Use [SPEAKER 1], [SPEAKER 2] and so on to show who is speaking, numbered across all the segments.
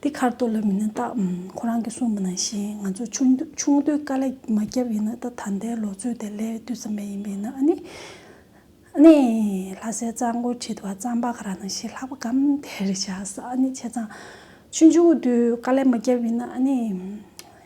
[SPEAKER 1] འདི་ཁར་གཏོར་ལ་མི་ན་རྟགས་ཁོ་རང་གིས་གསུངས་པ་ནང་བཞིན་ང་ཚོ་ཆུང་དུས་དཀའ་ལས་མ་བརྒྱབ་ཡིན་ན་ད་ད་ལྟའི་ལོ་ཚོད་དེ་ལས་བསྡུས་ཙམ་མེད་ཡིན་པས་ན་ཨ་ནི། ཨ་ནི། ལྷ་སའི་གཙང་པོ་ཁྲི་ཐུ་བ་གཙང་པ་ག་རང་ནང་བཞིན་ལྷག་པ་གམ་དེར་བཞག་ས་ཨ་ནི་བྱས་ཙང། ཆུང་ཆུང་དུས་དཀའ་ལས་མ་བརྒྱབ་ཡིན་ན་ཨ་ནི།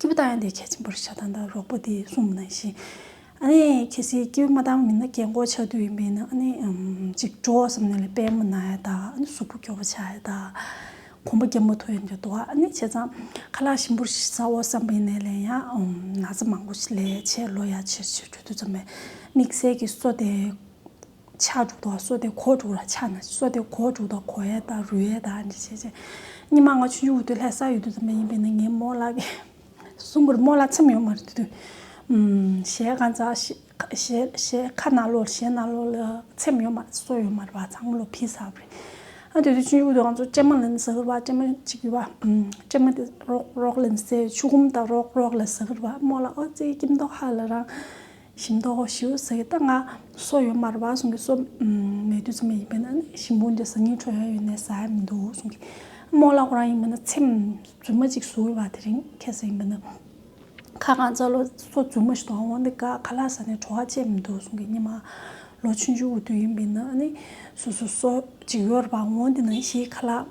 [SPEAKER 1] སྐྱེས་བུ་དང་ཡང་དེའི་གལ་ཆེན་པོར་ཞག་དང་ཟླ་རོག་པོ་དེས་གསུངས་ན་ཞིང། ཨ་ནི་གལ་སྲིད་སྐྱེས་བུ་མ་དང་མི་སྣ་གྱེན་འགོག་བྱ་དུས་ཡིན་པས་ན་ཨ་ནི། གཅིག་གྲོ་བསམ་ནས་ལས་པད་མོ་ན་ཡ་དག་ཨ་ནི་གཟུགས་པོ་སྐྱོ་བོ་ཆགས་ཡ་དག། གོང་པོ་རྒྱལ་མོ་ཐུ་ཡན་གྱི་དོ་ཨ་ནི་བྱས་ཙང་ཁ་ལག་ཞིམ་པོར་བཟའོ་བསམ་པས་ནས་ལན་ཡ། ན་ཚ་མང་པོ་ལས་བྱས་ལོ་ཡ་ཆེར་ཆེར་གྱོ་དུས་ཙམ་ལས་དམིགས་བསལ་གྱི་སོ་དེ། ཆགས་དྲུག་དང་སོ་ཏའི་གོ་དྲུག་ལ་ཆགས་ན་སོ་ཏའི་གོ་དྲུག་དང་གོ་ཡའི་དང་རུས་ཡའི་དང་འདྲེས་བྱེད་ཅིང། ཉི་མ་ལྔ་ཆུ་ཡུག་དུས་ལྷའི་ས་ཡོད་དུས་ཙམ་པ་ཡིན་པས་ནི་ངའི་རྨོ་ལགས་ཀྱི། གསུམ་པོར་རྨོ་ལགས་ཚིམ་ཡོད་མ་རེད་དུས། ཞལ་ཁ་འཛག། ཞལ་ཁ་ནག་ལོ་ཞལ་ནག་ལོ་ལ་ཚིམ་ཡོད་མ་རེད་སོ་ཡོད་མ་རེད་བ་ཚང་མ་ལོ་ཕི་ས་རེད། ཨ་དུས་དུས་ཆུ་ཡུག་དུས་ང་ཚོ་སྤྲེལ་མ་ལེན་ཟ་གིར་བ་སྤྲེལ་མ་གཅིག་གི་བ། སྤྲེལ་མ་དེ་རོག་རོག་ལེན་སའི་ཆུ་ཁུམ་དང་རོག་རོག་ལ་ཟ་གིར་བ་རྨོ་ལགས་ཨོ་རྩེའི་སྐྱིབས་མདོག་ཧ་ལ་རང། ཞིམ་མདོག་གོ་ཞེའུ་ཟེར་གྱི་རྟ་རྔ་སོགས་ཡོད་མ་རེད་བ་གསུངས་གི་སོ་མེད་དུས་ཚོད་མ་ཡིན་པས་ན་ཞིམ་པོ་འདི་ཟ་སྙིང་འཕྲོག་ཡ་ཡོད་ནའི་ཟ་ཡ་མི་འདུག་གསུངས་གི་རྨོ་ལགས་ཁོ་རང་ཡིན་པ་ན་ཚེམ་རྫུན་མ་ཅིག་ཟུག་ཡོད་བ་དེ་རིང་ཁྱེད་ཟེར་ཡིན་པ་ན་ཁ་བསྐང་རྩ་ལོ་སོ་རྫུན་མ་ཞིག་དང་འོང་འདི་ག་ག་ལ་ཟ་ནས་བྲོ་བ་ཅན་མི་འདུག་གསུངས་གི་སྙེ་མ་ལོ་ཆུང་ཆུང་གི་དུས་ཡིན་པས་ན་ནི་སོ་སོ་སོ་ཅིག་ཡོད་རེད་བ་འོང་འདི་ནང་བཞིན་ཁ་ལག།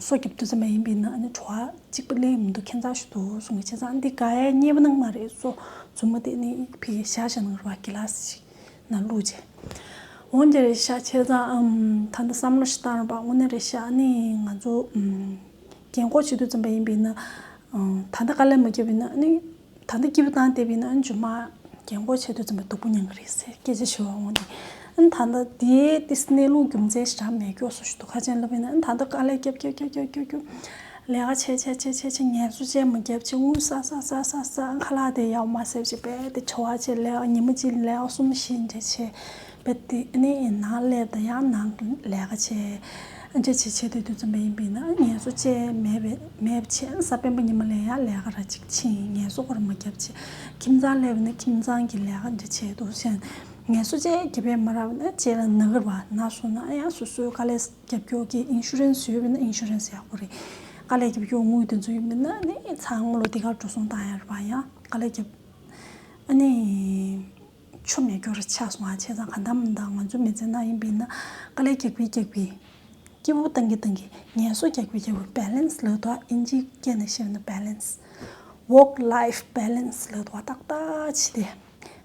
[SPEAKER 1] སོགས་ཀྱི་བདུད་རྩི་མ་ཡིན་པས་ན་ནི་བྲོ་བ་གཅིག་པ་གླེང་ཡོད་མི་འདུག་ཁྱེད་ཚང་ཞུ་དོ་གསུང་གི་བྱས་ཙང་འདི་དགའ་ཡའི་སྙེ་བ་ནང་མ་རེད་སོ་མཛུབ་མོ་དེ་ནི་ཕི་གེ་ཤ་ཤ་ནང་རུ་བ་གི་ལ་སི་ཞིག་ན་བླུག་རྗེས་འོང་རྒྱ་རེད་ཤག་ཁྱེད་ཚང་ཨམ་ཐ་ན་བསམ་བློ་ཞིག་བཏང་རོགས་པ་དངོས་གནས་རེད་ཤག་ནི་ང་ཚོ་རྒན་ཁོག་ཆེ་དུས་ཙམ་པ་ཡིན་པས་ན་ད་ལྟ་དཀའ་ལས་མ་བརྒྱབ་པས་ན་ནི། ད་ལྟ་སྐྱིད་པོ་བཏང་སྟེ་བས་ན་མཇུག་མ་རྒྱན་སྐོར་བྱེད་དུ་འཛིན་པ་སྡུག་པོ་མྱངས་ཀྱི་རེད་ཟེར་སྐད་ཆ་བྱེད་བ་འོང་སྟེ། ཨན་ད་ལྟ་དེའི་ཏི་སི་གནས་ལུགས་རྒྱུ་མཚན་ཞེ་དྲག་མེད་སྐྱོ་སོ་ཞུ་དོ་ཁ་ཅན་ལ་བས་ན་ཨན་ད་ལྟ་དཀའ་ལས་རྒྱབ་རྒྱབ་རྒྱབ་རྒྱབ་རྒྱབ་རྒྱབ། ལས་ཀ་བྱས་བྱས་བྱས་བྱས་བྱས་ངལ་གསོ་ཅན་མ་རྒྱབ་ཅིག་དངུལ་བསགས་བསགས་བསགས་བསགས་བསགས་ཨན་ཁ་ལག་དེ་ཡའོ་མ་སེར་ཅིག་རྦད་དེ་བྲི་བར་བྱེད་ལས་ཀ་ཉིན་མ་གཅིག་ལས་ཀ་གསུམ་བཞི་འདྲེ་བྱེད། དཔེ་དེ་ནི་ཡིན་ན་ལས་དང་ཡང་ན་ལས་ཀ་བྱེད། འབྲེལ་བྱེད་ཆེད་དུ་དུས་རྩོམ་པ་ཡིན་པས་ན་ངལ་གསོ་བཅས་མེད་པས་མེད་པ་ཆེན་ས་དཔོན་པོ་ཉི་མ་ལས་ཡང་ལས་ཀ་ར་གཅིག་ཕྱིན་ངལ་གསོ་སྒོར་མོ་བརྒྱ་བྱེད། ཁྱིམ་ཚང་ལས་པ་ནི་ཁྱིམ་ཚང་གི་ལས་ཀ་འབྲེལ་བྱེད་དུ་ཕྱིན། ངལ་གསོ་བཅས་བརྒྱ་པའི་མ་རག་པ་ན་བཅས་ལ་ནག་རིལ་བ་ན་སོང་ན་ཡང་སོ་སོའི་དཀའ་ལས་རྒྱབ་སྐྱོར་གྱིས Insurance ཡོད་པས་ན Insurance ཡག་པོ་རེད། དཀའ་ལས་རྒྱབ་སྐྱོར་དངུལ་དེ་ཚོ་ཡིན་པས་ན་ནི་ཚང་མ་ལོ་དེ་གར་འགྲོ་སོང་བཏང་ཡག་རེད་པ་ཡང་དཀའ་ལས་རྒྱབ། ཨ་ནི། ཆོ་མེད་རྒྱུར་ཆགས་སོང་ཨ་ཆེ་ཚང་ག་འདམ་འདམ་ང་ཚོ་མི་ཚེ་ན་ཡིན་པའི་ན་ཀ་ལས་རྒྱག་པའི་རྒྱག་པའི། སྐྱིད་པོ་བཏང་གི་བཏང་གི་ངལ་གསོ་རྒྱག་པའི་རྒྱག་པའི balance ལོད་དོ་ཨིན་ཇིའི་སྐད་ནས་བཤད་ན balance། work life balance ལོད་དོ་ཏག་ཏག་བྱས་ཏེ།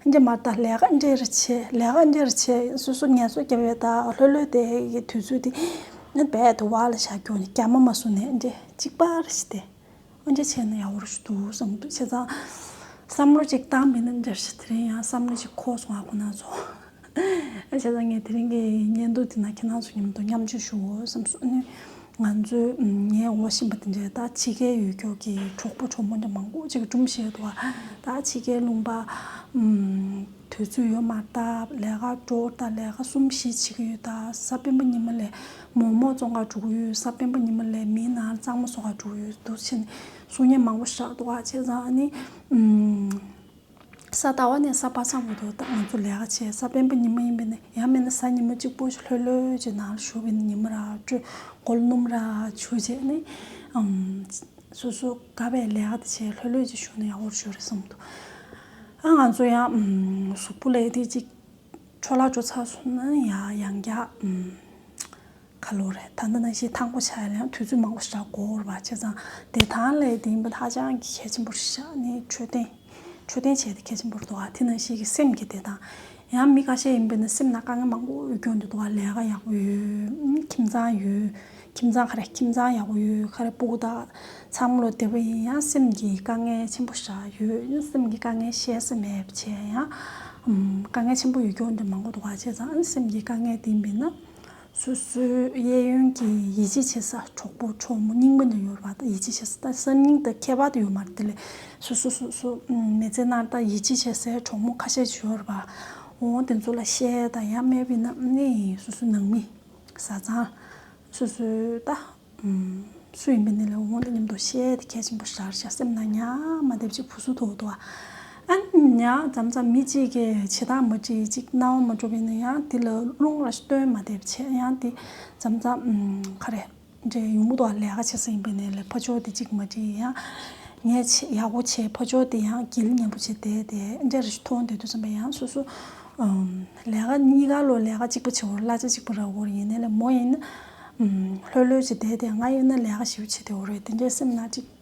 [SPEAKER 1] ཨིན་ཇི་མར་ད་ལས་ཀ་འདྲེར་བྱས་ལས་ཀ་འདྲེར་བྱས་སོ་སོ་ངལ་གསོ་རྒྱབ་ཡོད་ད་ལྷོད་ལྷོད་དེ་དུས་ཚོད་དེ། འབད་དེ་བ་ལ་བཞག་རྒྱུ་ནི་རྒྱ་མ་མ་བཟུང་ནས་ཨིན་ཇི་གཅིག་པར་བྱས་ཏེ། ཨོ་འདྲ་བྱས་ན་ཡག་པོ་རེད་འདུག་བསམ་འདུག་བྱས་ཙང། བསམ་བློ་གཅིག་བཏང་མེད་ན་འདྲ་ཞིག་དེ་རིང་ཡང་བསམ་བློ་གཅིག་ཁོག་སོང་བ་ཁོ་ན་ཚོ། བྱས་ཙང་ངས་དེ་རིང་གི་བརྙན་ཐུང་དེ་ན་ཁྱེད་རང་ཚོ་མཉམ་དུ་མཉམ་སྤྱོད་ཞུ་འོས་བསམ་སོང། ང་ཚོའི་ངའི་འོ་བཞིན་པ་དེ་འདྲའི་ད་ཕྱི་གའི་ཡུལ་སྐྱོར་གྱི་གྲོགས་པོ་གྲོགས་མོ་འདྲ་མང་པོ་ཅིག་སྦྲུམ་བཞིན་ཡོད་འདུག་བ། ད་ཕྱི་གའི་ལུང་པ། དུས་ཚོད་ཡོལ་མར་ད་ལས་ཀ་འགྲོ་ད་ལས་ཀ་གསུམ་བཞི་བྱེད་ཀྱི་ཡོད་ད་ས་སྤེན་པ་ཉི་མ་ལས་མོག་མོག་བཙོང་ཁར་དྲུག་ཡོད་ས་དཔོན་པོ་ཉི་མ་ལས་མིའི་ནང་གཙང་མ་བཟོ་ཁར་དྲུག་ཡོད་འདུག་ཕྱི་ནས་གསུང་སྙན་མང་པོ་བཞག་འདུག་ཨ་ཅེ་ཚང་ནི། ས་རྟ་བ་ནས་ས་པ་ཚང་བར་དུ་ང་ཚོ་ལས་ཀ་བྱེད་ས་དཔོན་པོ་ཉི་མ་ཡིན་པས་ནི་ཡང་མེད་ན་ས་ཉི་མ་གཅིག་པོ་ལྷོད་ལྷོད་ཀྱི་ནང་ལ་བཞུགས་པས་ནི་ཉི་མ་ར་སྤྲོད་མགོ་ལ་སྣུམ་ར་བྱུགས་རྗེས་ནི། སོ་སོ་ག་བས་ལས་ཀ་དེ་བྱེད་ལྷོད་ལྷོད་ཀྱིས་བཞུགས་ན་ཡག་པོར་བྱོས་རེད་བསམ་འདུག་ཨ་ང་ཚོ་ཡང་གཟུགས་པོ་ལས་དེ་ཅིག། འཕྲོ་བརླག་འགྲོ་ཚར་སོང་ན་ཡང་ཡང་བརྒྱག། ཁ་ལོ་རེད་ད། འདི་ནང་བཞིན་ཐང་པོ་ཆགས་ཡོད་ན་ཡང་དུས་ཚོད་མང་པོ་ཞིག་ལ་འགོར་བ་བྱས་ཙང་བདེ་ཐང་ལས་དེ་ཡིན་པ་ཧ་ཅང་གི་གལ་ཆེན་པོ་རེད་བཞག་ནས་འཕྲོད་བསྟེན། འཕྲོད་བསྟེན་བྱས་ཏེ་གལ་ཆེན་པོ་རེད་འདུག་དེ་ནང་ཞིག་གི་སེམས་ཀྱི་བདེ་ཐང། ཡང་མི་ཁ་ཤས་ཡིན་པས་ན་སེམས་ནང་དཀའ་ངལ་མང་པོ་ཡོད་སྐྱོང་དུ་འདུག་ལས་ཀ་ཡག་པོ་ཡོད། ཁྱིམ་ཚང་ཡོད། ཁྱིམ་ཚང་ཁ་རེ་ཁྱིམ་ཚང་ཡག་པོ་ཡོད་ཁ་རེ་སྤུག་དག་ཚང་མ་ལོ་དེ་བས་ཡིན་ཡང་སེམས་ཀྱི་དཀའ་ངལ་ཆེན་པོ་བཞག་ཡོད་ཡིན་སེམས་ཀྱི་དཀའ་ངལ་བཤད་ས་མེད་བྱས་ཡང་དཀའ་ངལ་ཆེན་པོ་ཡོད་སྐྱོང་འདི་མང་པོ་འདུག་བ་བྱས་ཙང་སེམས་ཀྱི་དཀའ་ངལ་དེ་མིན་ན་སོ་སོའི་གཡས་གཡོན་གྱི་ཡིད་ཆེས་བྱེད་ས་གྲོགས་པོ་གྲོགས་མོ་སྙིང་པོ་འདི་ཡོད་པ་དག་ཡིད་ཆེས་བྱེད་ས་དག་སེམས་སྙིང་དག་ཁྱད་པར་དུ་ཡོད་མ་རེད་དེ་ལས་སོ་སོ་སོ་སོ་མི་ཚེ་ནར་དག་ཡིད་ཆེས་བྱེད་སའི་གྲོགས་མོ་ཁ་ཤས་ཅི་ཡོད་རེད་བ་འོང་དེ་ཚོ་ལ་བཤད་དང་ཡང་སྨད་བས་ན་ནི་སོ་སོའི་ནང་མི། བཟའ་ཚང། སོ་སོའི་ལྟ། སུ་ཡིན་པའི་གནས་ལས་འོངས་ཏེ་སྙམ་དུ་ཤེས་ཏེ་ཁས་ཆེན་པོ་བཞག་བཞག་སེམས་ན་ཉག་མ་འདེབས་ཅིག་བུ་སུ་དོ་དོ། ཨན། ཉག་འཇམ་འཇམ་མི་གཅིག་གི་བྱེད་སྟངས་མ་བྲིས་གཅིག་རྣ་བ་མ་གྲོ་བས་ན་ཡང་དེ་ལ་རླུང་ར་སྟོན་མ་འདེབས་བྱས་ཡང་དེ་འཇམ་འཇམ། ཁ་རེ། འདྲའི་ཡུགས་མོ་དང་ལས་ཀ་བྱེད་ས་ཡིན་པའི་ནས་ལས་ཕོ་ཅོག་དེ་ཅིག་མ་དྲིས་ཡ། ངས་ཡག་པོ་བྱས་ཕོ་ཅོག་དེ་ཡང་གིལ་ངན་པོ་བྱས་དེ་དེ་འདྲའི་རེ་ཞུ་ཐོ་འོང་འདོད་དུ་བསམ་པའི་ཡང་སོ་སོ། ལས་ཀ་གཉིས་ཀ་ལོ་ལས་ཀ་གཅིག་པོ་བྱས་བོར་གླ་ཆ་གཅིག་པོ་རག་བོར་ཡིན་ནས་ལས་མོ་ཡིན། ལྷོད་ལྷོད་བྱས་དེ་དེ་ང་ཡིན་ན་ལས་ཀ་ཞིབ་བྱས་དེ་འོ་རེད་དེ་འདྲའི་སེམས་ན་དྲིས།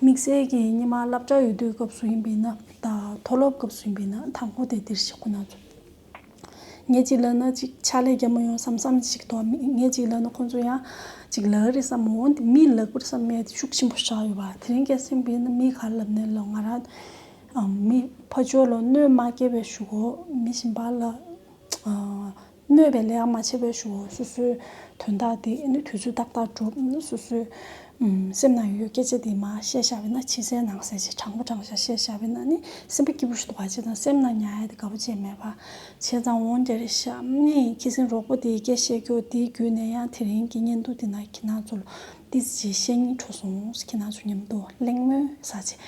[SPEAKER 1] དམིགས་བསལ་གྱི་སྙེ་མ་བསླབ་བྱ་ཡོད་དུས་སྐབས་སུ་ཡིན་པའི་ན་དང་མཐོ་སློབ་སྐབས་སུ་ཡིན་པའི་ན་མཐའ་འཁོར་དེ་དེར་ཞིག་ཁོ་ན་ཚུད། ངས་ཅིག་ལབ་ན་ཅིག་ཕྱག་ལས་རྒྱ་མོ་ཡོང་བསམ་བསམ་ཞིག་དོགས་མེད་ངས་ཅིག་ལབ་ན་ཁོ་ཚོ་ཡང་ཅིག་ལབ་གི་རེད་བསམ་མོད་འོན་ཏེ་མིའི་ལག་པར་བསམ་མེད་དེ་ཤུགས་ཆེན་པོ་བཞག་ཡོད་པ་དེ་རིང་སྐད་གསེང་སྤེལ་ན་མིས་ག་རེ་ལབ་ནས་ལབ་ང་རང་མི་ཕ་ཇོ་ལ་གནོད་མ་སྐྱེལ་བའི་ཞུ་གོ་མི་བཞིན་པ་ལ། སྨོས་པའི་ལེའང་མ་ཕྱེ་བས་ཞུ། སོ་སོའི་དོན་དག་དེ་ནི་དུས་ཚོད་ཏག་ཏག་འགྲུབ། སོ་སོའི་སེམས་ན་ཡོད་སྐད་ཆ་དེ་མ་བཤད་བཞག་པས་ན་ཕྱི་གསལ་ནང་གསལ་ཞེས་དྲང་པོ་དྲང་བཞག་བཤད་བཞག་པས་ན་ནི་སེམས་པ་སྐྱིད་པོ་ཞིག་ཏུ་བར་ཆད་དང་སེམས་ན་ཉག་ཡ་དེ་དགའ་པོ་ཅན་མེད་པར་བྱས་ཙང་འོང་རྒྱ་རེ་ཤ་ནི་ཁྱི་སེང་རོག་པོ་དེའི་སྐད་བཤད་རྒྱུ་དེའི་རྒྱུད་ནས་ཡང་དེ་རིང་གི་བརྙན་ཐུང་དེ་ན་ཁྱི་ནག་ཚོ་ལོ་ཏི་ཟི་ཅེས་བཤད་སྙིང་འཕྲོག་སོང་ཁྱི་ནག་ཚོ་མཉམ་དུ་གླེང་མོལ་ཟ་ཆེད།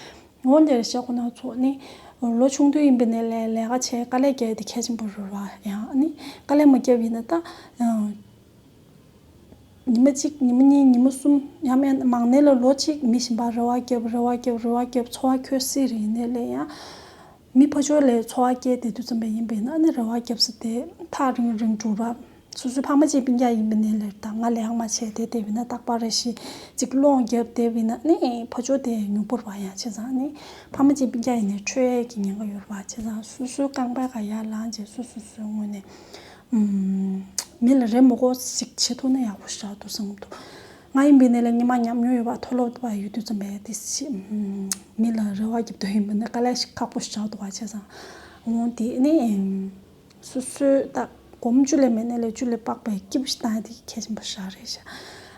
[SPEAKER 1] ངོ་འདིར་གཤེགས་པ་སྣ་ཚོགས་ནི། ལོ་ཆུང་དུས་ཡིན་པའི་ནས་ལས་ལས་ཀ་བྱས་དཀའ་ལས་བརྒྱལ་ཏེ་ཁྱད་ཆེན་པོ་རོལ་བ་ཡང་ནི་དཀའ་ལས་མ་བརྒྱལ་བ་ཡིན་ན་ཏག། ཉི་མ་གཅིག་ཉི་མ་གཉིས་ཉི་མ་གསུམ་ཡང་མན་ན་མང་ནས་ལ་ལོ་གཅིག་མི་བཞིན་པར་རེ་བ་བརྒྱལ་བར་རེ་བ་བརྒྱལ་བར་རེ་བ་བརྒྱལ་བར་འཚོ་བ་ཁྱོད་སྲིད་རེད་ནས་ལས་ཡང། མི་ཕོ་ཅོ་ལས་འཚོ་བ་སྐྱེལ་ཏེ་དུས་ཙམ་པ་ཡིན་པས་ན་ནི་རེ་བ་སྐྱབས་སུ་དེ་ཐག་རིང་རིང་སྒྲུབ་པ། སོ་སོའི་ཕ་མ་གཅིག་པིང་རྒྱ་ཡིན་པས་ནི་ལེར་དང་ང་ལེའང་མ་བྱས་ཏེ་དེ་བས་ན་རྟག་པར་རེ་ཞིག་ཅིག་སློང་རྒྱབ་དེ་བས་ན་ནི་ཕོ་ཅོ་དེ་མྱུག་པོར་བ་ཡང་བྱས་ཙང་ནི་ཕ་མ་གཅིག་པིང་རྒྱ་ཡིན་ནས་ཁྲོས་ཡས་ཀྱི་ཉེན་ཁ་ཡོད་རེ་བ་བྱས་ཙང་སོ་སོའི་རྐང་པའི་ཁ་ཡར་ལངས་རྗེས་སོ་སོ་སོའི་ངོས་ནས། མི་ལ་རེ་མོ་ཀོ་ཞིག་བྱེད་ཐུབ་ན་ཡག་པོ་ཞིག་རག་འདུག་བསམ་འདུག། ང་ཡིན་པའི་གནས་ལ་ཉི་མ་ཉམས་མྱོང་ཡོད་པ་མཐོ་སློབ་དུ་བ་ཡོད་དུས་རྩོམ་པའི་དུས་ཤིག་མི་ལ་རེ་བ་བརྒྱབ་འདོད་ཡོད་མི་སྣ་དཀའ་ལས་ཤིག་ཁག་པོ་ཞིག་བྱ་འོ་དུ་བ་བྱས་སམ། འོང་དེ་ནི། སོ་སོའི་རྟགས་གོམ་བཅུ་ལས་མེད་གནས་ལས་བཅུ་ལས་དཔག་པའི་སྐྱེས་བུ་ཞིག་བཏང་ཡང་དེ་གི་གལ་ཆེན་པོ་ཞག་རེ་ཞག་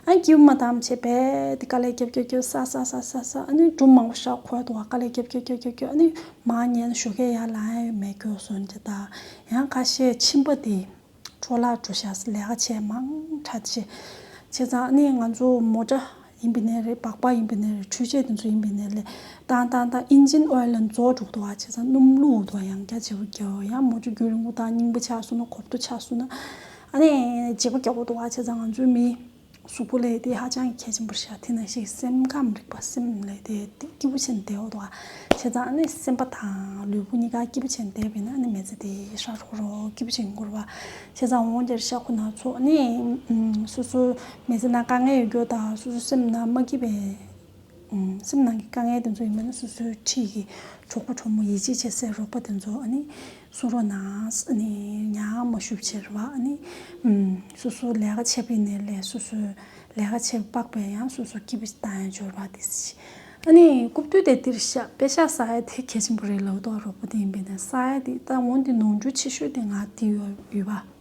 [SPEAKER 1] ཨང་སྐྱིད་པོ་མ་བཏང་བྱས་པས་དེ་དཀའ་ལས་རྒྱབ་རྒྱབ་རྒྱབ་ས་ས་ས་ས་ས་ཨ་ནི་སྒྲུབ་མང་པོ་ཞག་འཁོར་དུ་བ་དཀའ་ལས་རྒྱབ་རྒྱབ་རྒྱབ་རྒྱབ་རྒྱབ་ཨ་ནི་མ་ཉན་ཞོ་ཁའི་ཡར་ལངས་ཡོད་མེད་གྱོ་སོན་གྱི་ད་ཡང་ཁ་ཤས་ཕྱིན་པ་དེ་འཕྲོ་བརླག་འགྲོ་ཤག་ལས་ཀ་བྱས་མང་ཁྲ་བྱས་བྱས་ཙང་ནས་ང་ཚོ་མོ་ཏྲ་ཡིན་པའི་ནས་རེད་སྦག་སྦག་ཡིན་པའི་ནས་རེད་འཕྲུལ་ཆས་དེ་ཚོ་ཡིན་པའི་ནས་ལས་ཏང་ཏང་ཏང་ཨིན་ཇིན་ཨོལ་ལན་རྫོགས་འགྲོ་དུ་བ་བྱས་ཙང་སྣུམ་བླུག་འོག་དུ་བ་ཡང་བརྒྱ་བྱས་པོ་བརྒྱ་བོ་ཡང་མོ་ཅོ་རྒྱུ་རིང་པོ་ཏང་རྙིང་པོ་ཆགས་སོང་ན་གོབ་ཏོ་ཆགས་སོང་ན་ཨ་ནས་བྱས་པོ་བརྒྱ་བོ་དུ་བ་བྱས་ཙང་ང་ཚོའི་མི་གཟུགས་པོ་ལས་དེ་ཧ་ཅང་གལ་ཆེན་པོར་ཤར་དེ་ན་ཞིག་སེམས་ཁམས་རིག་པ་སེམས་ལས་དེ་སྐྱིད་པོ་ཆེན་འདས་འོད་བ་བྱས་ཙང་ནི་སེམས་པ་དང་ལུས་པོ་གཉིས་ཀ་སྐྱིད་པོ་ཆེན་འདས་པས་ན་ནི་མེ་ཚེ་དེ་ཧྲག་ཧྲོག་རོ་སྐྱིད་པོ་ཆེན་འགོར་བ་བྱས་ཙང་འོང་རྒྱར་ཤ་ཁོ་ན་ཚོ་ནི་སོ་སོའི་མེ་ཚེ་ན་དཀའ་ངལ་ཡོད་རྒྱུ་དང་སོ་སོའི་སེམས་ན་མ་སྐྱིད་པའི། སེམས་ནང་གི་དཀའ་ངལ་དེ་ཚོ་ཡིན་པ་ནི་སོ་སོའི་འཁྲིས་ཀྱི་གྲོགས་པོ་གྲོགས་མོ་ཡིད་ཆེས་བྱེད་སའི་རོགས་པ་དེ་ཚོ་ནི་གསུང་རོགས་ནའང་ཉག་མ་ཞུ་ཕྱིར་བ་ནི། སོ་སོའི་ལས་ཀ་བྱེད་པའི་ནས་ལས་སོ་སོའི་ལས་ཀ་བྱེད་པ་དཔག་པའི་ཡང་སོ་སོའི་སྐྱིད་པོ་ཅིག་དང་ཡང་འབྱོར་བ་དེ་བྱེད། ནི་རྐུབ་སྟོད་དེ་འདིར་བཞག་དཔེ་བཞག་ས་ཡ་དེ་གལ་ཆེན་པོ་རེད་ལབ་རྟོག་རོགས་པོ་དེ་ཡིན་པའི་ནས་ས་ཡ་དེ་ད་འོང་དེ་ནོར་འཁྲུལ་ཆེ་ཤོས་དེ་ང་དེ་ཡོད་བ།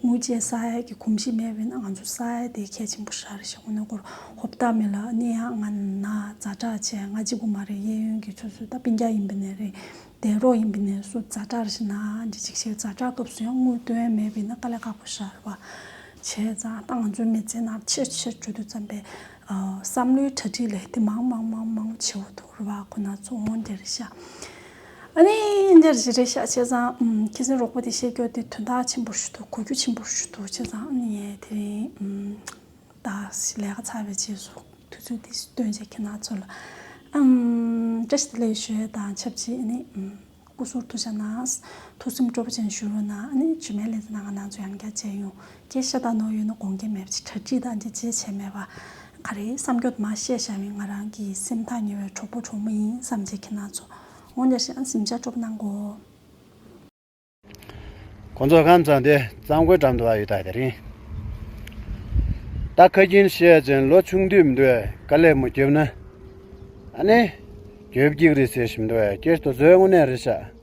[SPEAKER 1] དངུལ་ཅན་ས་ཡ་གི་གོམས་གཤིས་མེད་པས་ན་ང་ཚོ་ས་ཡ་དེའི་གལ་ཆེན་པོ་ཧྲ་རེད་ཞེས་ཁོ་ནའི་སྐོར་ཧོབ་བཏགས་མེད་ལ་གནས་ཡག་ང་ན་རྫ་བྲག་ཆེ་ང་གཅིག་པུ་མ་རེད་གཡས་གཡོན་གྱི་ཆུ་ཚོད་ད་པིན་རྒྱ་ཡིན་པ་ནས་རེད་དེ་རོགས་ཡིན་པ་ནས་སུ་རྫ་བྲག་རེད་ཞེས་ན་འདི་གཅིག་བྱས་རྫ་བྲག་སྐབས་སུ་ཡང་དངུལ་དོན་མེད་པས་ན་དཀའ་ལས་ཁག་པོ་ཧྲ་རེད་བ། བྱས་ཙང་ད་ང་ཚོའི་མི་ཚེ་ནང་ཆེས་ཆེར་བརྗོད་དུ་བརྩམས་པའི་བསམ་བློའི་གྲ་སྒྲིག་ལས་དེ་མང་མང་མང་མང་ཆེ་བོ་འདུག་རེད་བ་ཁོ་ན་ཚོ་འོང་རྒྱ་རེད་ཤག། ཨ་ནི་ཉེར་བཞི་རེད་ཤག་བྱས་ཙང་ཁྱེད་ཚོའི་རོགས་པོ་དེ་བཤད་རྒྱུ་དེ་དོན་དག་ཆེན་པོར་ཞུ་འདུག་གོ་རྒྱུ་ཆེན་པོར་ཞུ་འདུག་བྱས་ཙང་ཨ་ནི་ངས་དེ་རིང་ད་ལས་ཀ་ཚར་བའི་རྗེས་སུ་དུས་ཚོད་འདི་སྟོན་བྱེད་ཁྱེད་རྣམས་ཚོ་ལ་བཀྲ་ཤིས་བདེ་ལེགས་ཞུ་ཡས་དང་ཆབས་ཅིག་ཨ་ནི་སྐུ་ཟུར་ཐུགས་བྱ་ནང་ཐུགས་སེམས་སྤྲོ་པོ་ཅན་ཞུ་རུ་ན་ཨ་ནི་ཇུས་མེད་ལས་ཚེ་ནང་ང་ནང་ཚོ་ཡང་བསྐྱར་མཇལ་ཡོང། སྐད་ཆ་དག་ནོར་ཡོད་ན་དགོངས་འགལ་མེད་པ་ཅིག་གྲ་སྒྲིག་དང་འཇལ་བྱེད་བྱས་མེད་པ་ག་རེ་བསམ་འགྱོད་མ་བཤད་བྱ་བའི་ང་རང་གི་སེམས་ཐག་ཉེ་བའི་གྲོགས་པོ་གྲོགས་མོ་ཡིན་བསམ་བྱེད་ཀྱི་སྣ་ཚོགས་འོང་འདྲ་ཞིག་ཨང་གཟིམ་ཆ་སྤྲོ་གནང་གོ།
[SPEAKER 2] ཁོ་ཚོ་ཁམས་ཚང་དེ་གཙང་པོའི་འགྲམ་དུ་བ་ཡོད་ད་དེ་རིང་ད་ཁ་རྒྱུན་བཤད་ཅིང་ལོ་ཆུང་དུས་མདོས་དཀའ་ལས་མོ་རྒྱོབ་ན་ཨ་ནེ། རྒྱོབ་ཀྱིག་རེད་ཟེར་བཞིན་མདོས་ཀྱིར་དོ་བཟོའི་དངོས་གནས་རེད་ཤག།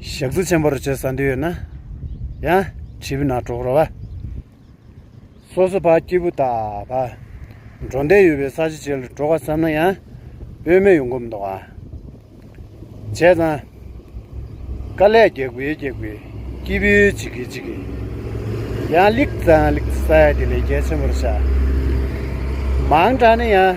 [SPEAKER 2] ཞག་རྩི་ཆེན་པོར་བྱེད་ས་འདི་ཡོད་ན། ཡང་བྱིས་ན་གྲོགས་ར་བ། སོ་སོ་བ་སྐྱིད་པོ་དག་བ། འགྲོ་འདས་ཡོད་པའི་ས་ཆ་བྱེད་ལ་གྲོགས་བ་བསམ་ན་ཡང། དཔོན་མེ་ཡོང་གོམ་མདོག་བ། བྱས་ཙང། དཀའ་ལས་རྒྱག་པའི་རྒྱག་པའི། སྐྱིད་པོའི་བྱེད་ཀྱི་བྱེད་ཀྱི། ཡང་ལེགས་ཙང་ལེགས་སའི་དེ་ལས་རྒྱལ་ཆེན་པོར་བྱ། མང་དྲགས་ན་ཡང།